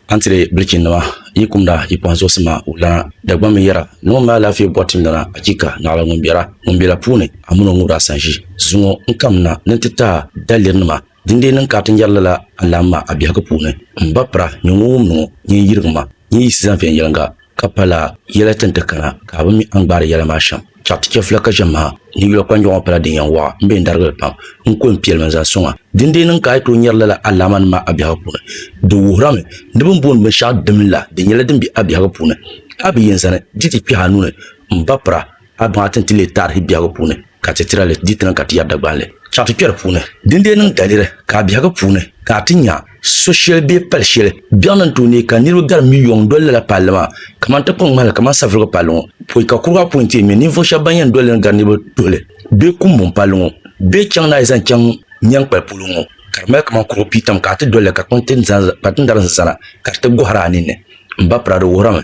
A ni ti leei bilichinnima yi kumda yi kpaŋzuɣusi maa wulana, Dagbam mini yɛra ni ŋun mali alaafee bɔri tim lana, achiika! Naɣila ŋun biɛra, ŋun be la puuni, a mini o ŋubira sanʒi. Zuŋɔ n kam na ni n ti taai dalirinima, dindee niŋ ka a ti nyari lala alaamma a biɛhigu puuni. M ba pira, nyɛ ŋun wumdi ŋɔ, nyɛ n yirigimma, nyɛ yiɣisi zani viɛnyɛliŋga. ka pala yɛla tin ti kana ka a bi mi a ni gbaari yɛla maa shɛm. Chɛɣu ti chɛfila ka ʒiɛm maha ni yula kpanjɔɣu ŋɔ pala din yɛn waɣa m-be n darigili pam n-kul n piɛlimi n-zaŋ sɔŋ a. Dindee niŋ ka a yi tooi nyari lala alaamanim maa a biɛhigu puuni. Di wuhirami ni bɛ ni booni binshɛɣu dimli la di nyɛla din be a biɛhigu puuni. A bi yɛn zani di ti kpɛhi a nuu ni m-ba pira a baŋa ti ni ti leei taarihi biɛhigu puuni. ka ti tira li di tiŋa ka ti yɛri Dagbani li chaŋ ti kpɛri puuni. Din dee niŋ daliri ka a biɛhigu puuni ka a ti nya so shɛli bee pal shɛli biɛɣu ni tooi neei ka niriba gari miliyɔŋ n-doli lala palli maa kamani tiŋkpaŋ ŋmahili kamani Savulugu palli ŋɔ pɔi ka kurigu apɔi n-ti mini ninvuɣ shɛba ban yɛn doli li ni gari niriba tuhili bee Kumbɔŋ palli ŋɔ bee chaŋ naai zaŋ chaŋ Nyɛnkpali polo ŋɔ ka di mali kamani kurigu piitam ka a ti doli li ka kpatindarinsi zana ka di ti gɔhiri a ninni. M ba Prado wuhirimi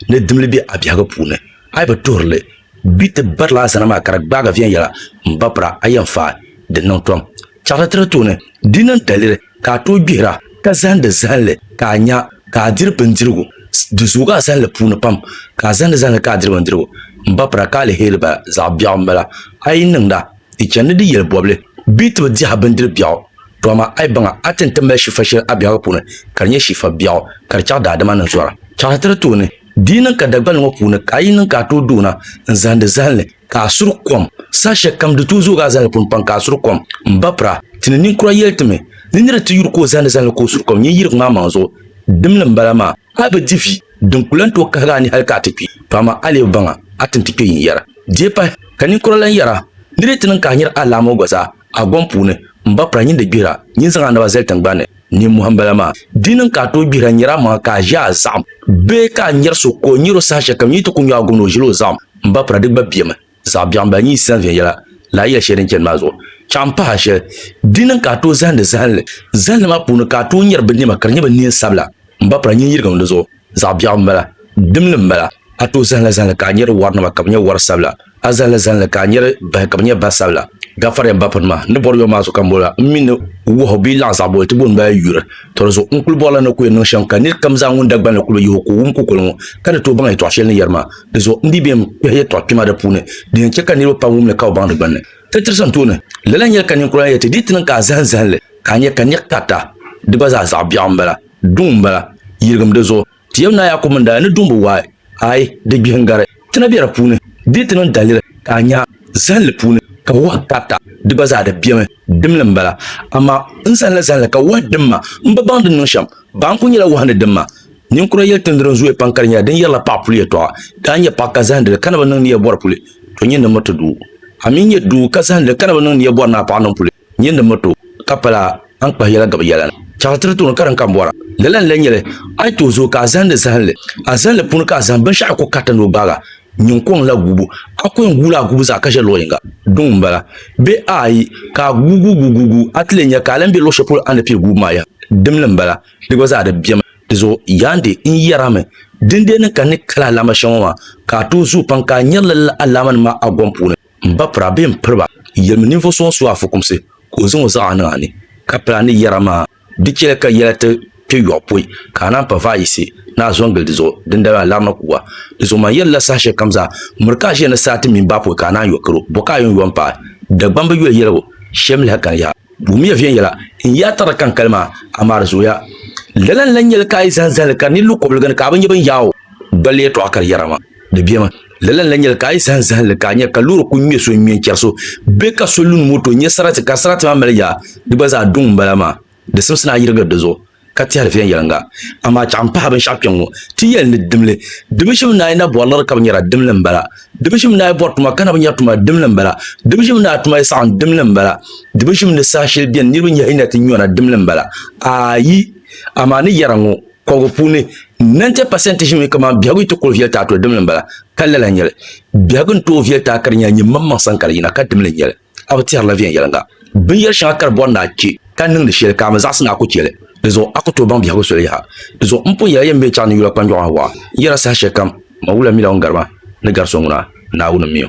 ni dimli be a biɛhigu puuni a yi bi tuhiri li Gbi ti barila a zana maa ka di gbaagi viɛnyɛla m-ba pira a yɛn faai di niŋ tom. Chaɣiri ti di tooni di niŋ daliri ka a tooi gbihira ka zahindi zahinli ka a nya ka a diri bindirigu. Di zoogi a zahinli puuni pam ka a zahindi zahinli ka a diri bindirigu. M-ba pira ka aliheri bala zaɣ biɛɣu m-bala a yi niŋda di chani ni di yɛli bɔbili bee ti bi dihi a bindiri biɛɣu. Tɔ amaa a yi baŋa a ti ni ti mali shifa shɛli a biɛhigu puuni ka di nyɛ shifa biɛɣu ka di chaɣ daadama ni zɔra. Chaɣiri ti di tooni Di yi niŋ ka dagbali ŋɔ puuni ka a yi niŋ ka a tooi doona n zahindi zahili ni ka a suri kom, saha shɛli kam di tooi zoogi a zahili puuni pam ka a suri kom. M ba Pira, ti ni ninkura yɛli ti mi ni nira ti yuri ka o zahindi zahili ni ka o suri kom nyin yirigu maa maŋ zuɣu. Dimli m bala maa, a bi di vi din ku lan tooi kahigi a ni hali ka a ti kpi, to amaa a lee bi baŋ a, a tin ti kpe yin yɛra. Di yi pahi, ka ninkura lan yɛra, Nir yi ti niŋ ka a nyari alaamo gba zaa a gom puuni, m ba Pira, nyin di gbihira, nyin zaŋ a naba zali tiŋgbani. Ninmohi n bala maa. Di niŋ ka a tooi gbihira nyɛri a maŋa ka a ʒi a zaɣim bee ka a nyɛri so ka o nyɛri o saha shɛli kam yi ti ku nyo a gumni o ʒili o zaɣim m ba pira di gba bemi. Zaɣ biɛɣu n bala nyin yi san viɛnyɛla ni a yɛli shɛli din chani maa zuɣu chaŋ m pahi a shɛli. Di niŋ ka a tooi zahindi zahinli zahinli maa puuni ka a tooi nyɛri binnɛma ka di nyɛ binneen sabila. M ba pala nyin yirigim di zuɣu zaɣ biɛɣu m-bala, dimli m-bala. A tooi zahila zahili ka a nyari warinima ka bɛ nyɛ war sabila. A zahila zahili ka a nyari bahi ka bɛ nyɛ bah sabila. Gafariya m ba pini maa, n ni bɔri yom maa zuɣu ka m boli a, m mi ni wɔhu bee laɣ zaɣ boli ti booni ba yuri. Tɔ di zuɣu n kul bɔrila ni ku yɛn niŋ shɛm ka nir kam zaa ŋun Dagbani ni kul bi yihi o ka o wum kukoli ŋɔ ka di tooi baŋ yɛtɔɣ shɛli ni yɛri maa. Di zuɣu n dii bem kpɛhi yɛtɔɣ kpɛma di puuni din yɛn chɛ ka niriba pam wum li ka bi baŋ di gbinni. Ti tirisi n tooni, lala n-yɛli ka ninkura yɛli ti dii ti niŋ ka a zahim zahili. Ka a nya ka niɣ karita, di gba zaa zaɣ biɛɣu m-bala, duŋ m-bala, yiligim di zuɣu. Ti yɛm Naa Yaakubu mini Daaya ni duŋbu waai, aai, di gbihi n-gari, ti na be di puuni. Dii ti niŋ daliri ka a nya zahinli puuni ka wahu karita, di gba zaa di bemi, dimli m-bala. Amaa n zani la zahinli ka wahu dim ma, m bi baŋ din niŋ shɛm. Baa n-kul nyɛla wahu ni dim ma. Ninkura yɛli tindi din zooya pam ka di nyɛla din yɛrila paɣ puli yɛtɔɣa. Daa nyɛ paɣ ka zahindi li ka na bi niŋ ni yɛ bɔri puli, to nyini ni miriti doo. A mi nyɛ doo ka zahindi li ka na bi niŋ ni yɛ bɔri ni a paɣ niŋ puli. Nyin di miri ti o, ka pala a ni kpahi yɛla gabi yɛla ni. Chɛɣu tiri ti o ni karim ka m bɔra. Lala n-lee nyɛ li, a yi tooi zooi ka a zahindi zahinli. A zahinli puuni ka a zahim binshɛɣu ku kariti ni o gbaag a nyin kɔŋ la guubu. A ku yɛn guui la a guubu zaa ka ʒe luɣ yiŋga. Duŋ m-bala. Bee aai, ka a guui guuguuguuguui, a ti lee nya ka a lan be luɣ shɛli polo a ni pii guubu maa yaha. Dimli m-bala. Di gba zaa di bemi. Di zuɣu yaandi, n yɛr a mi, dindee ni ka n ni kali alaama shɛŋa ŋɔ maa, ka a tooi zooi pam ka a nyari lala alaamanim maa a gɔm puuni. M ba pira bee m piri ba? Yɛlimi ninvuɣ so ŋun su a fukumsi ka o zaŋ o zaɣa niŋ a ni, ka pili a ni yɛra maa. Di chɛli ka yɛla ti kpe yɔɣu pɔi, ka a naan pa vaai yiɣisi ni a zɔŋ gili di zuɣu, dindali a larina kuga. Di zuɣu man yɛli la saha shɛli kam zaa, miri ka a ʒiya ni saa ti mini baa pɔi ka a naan yɔ kar o, bɔ ka a yɛn yɔ m-paai? Dagbam bi yoli yɛligu shɛm lahi kani yaha. Wummiya viɛnyɛla n yaai tarili ka n kali maa, amaa di zooya. Lala n-lan nyɛli ka a yi zahim zahili ka di ni lu kɔbiliga ni ka a bi nya bini yaai o. Dolli yɛtɔɣa ka di yɛra maa. Di bemi. Lala n-lahi nyɛli ka a yi zahim zahimli ka a nya ka loori kuli ŋme so n-ŋme n-chɛri so bee ka so lun moto n-nyɛ sarati ka sarati maa mali yaa, di gba zaa duŋ m-bala maa. Di simsi ni a yirigiri di zuɣu ka tɛhiri viɛnyɛliŋga. Amaa chɛɣu m-pahi binshɛɣu kpe ŋ-ŋɔ ti yɛli ni dimli. Dibi shim ni a yi na bɔri liɣiri ka bi nyɛra, dimli m-bala. Dibi shim ni a yi bɔri tuma ka na bi nyɛri tuma, dimli m-bala. Dibi shim ni a tuma yi saɣim, dimli m-bala. Dibi shim ni saha shɛli beni niriba nyɛhi yi na ti nyɔna, dimli m-bala. Aayi! Amaa ni yɛra ŋɔ. Kɔbigu puuni, 90 pasɛnti ʒimi kamani biɛhigu yi ti kuli viɛli ti a toli dimli m-bala, ka lala n-nyɛ li. Biɛhigu ni tooi viɛli ti a ka di nyɛla nyimmaŋmaŋ sani ka di yina, ka dimli n-nyɛ li. A bi tɛhirila viɛnyɛliŋga binyɛr shɛŋa ka di bɔri ni a chɛ ka niŋdi shɛli ka a mi zaɣisi ni a ku chɛ li. Di zuɣu a ku tooi baŋ biɛhigu soli yaha. Di zuɣu m pun yɛli a yɛn mi chaŋ ni yula kpanjɔɣu a waɣa n yɛra saha shɛlikam, Ma wula mila o ni gari ma ni gari so ŋuna, Naawuni m-mi o.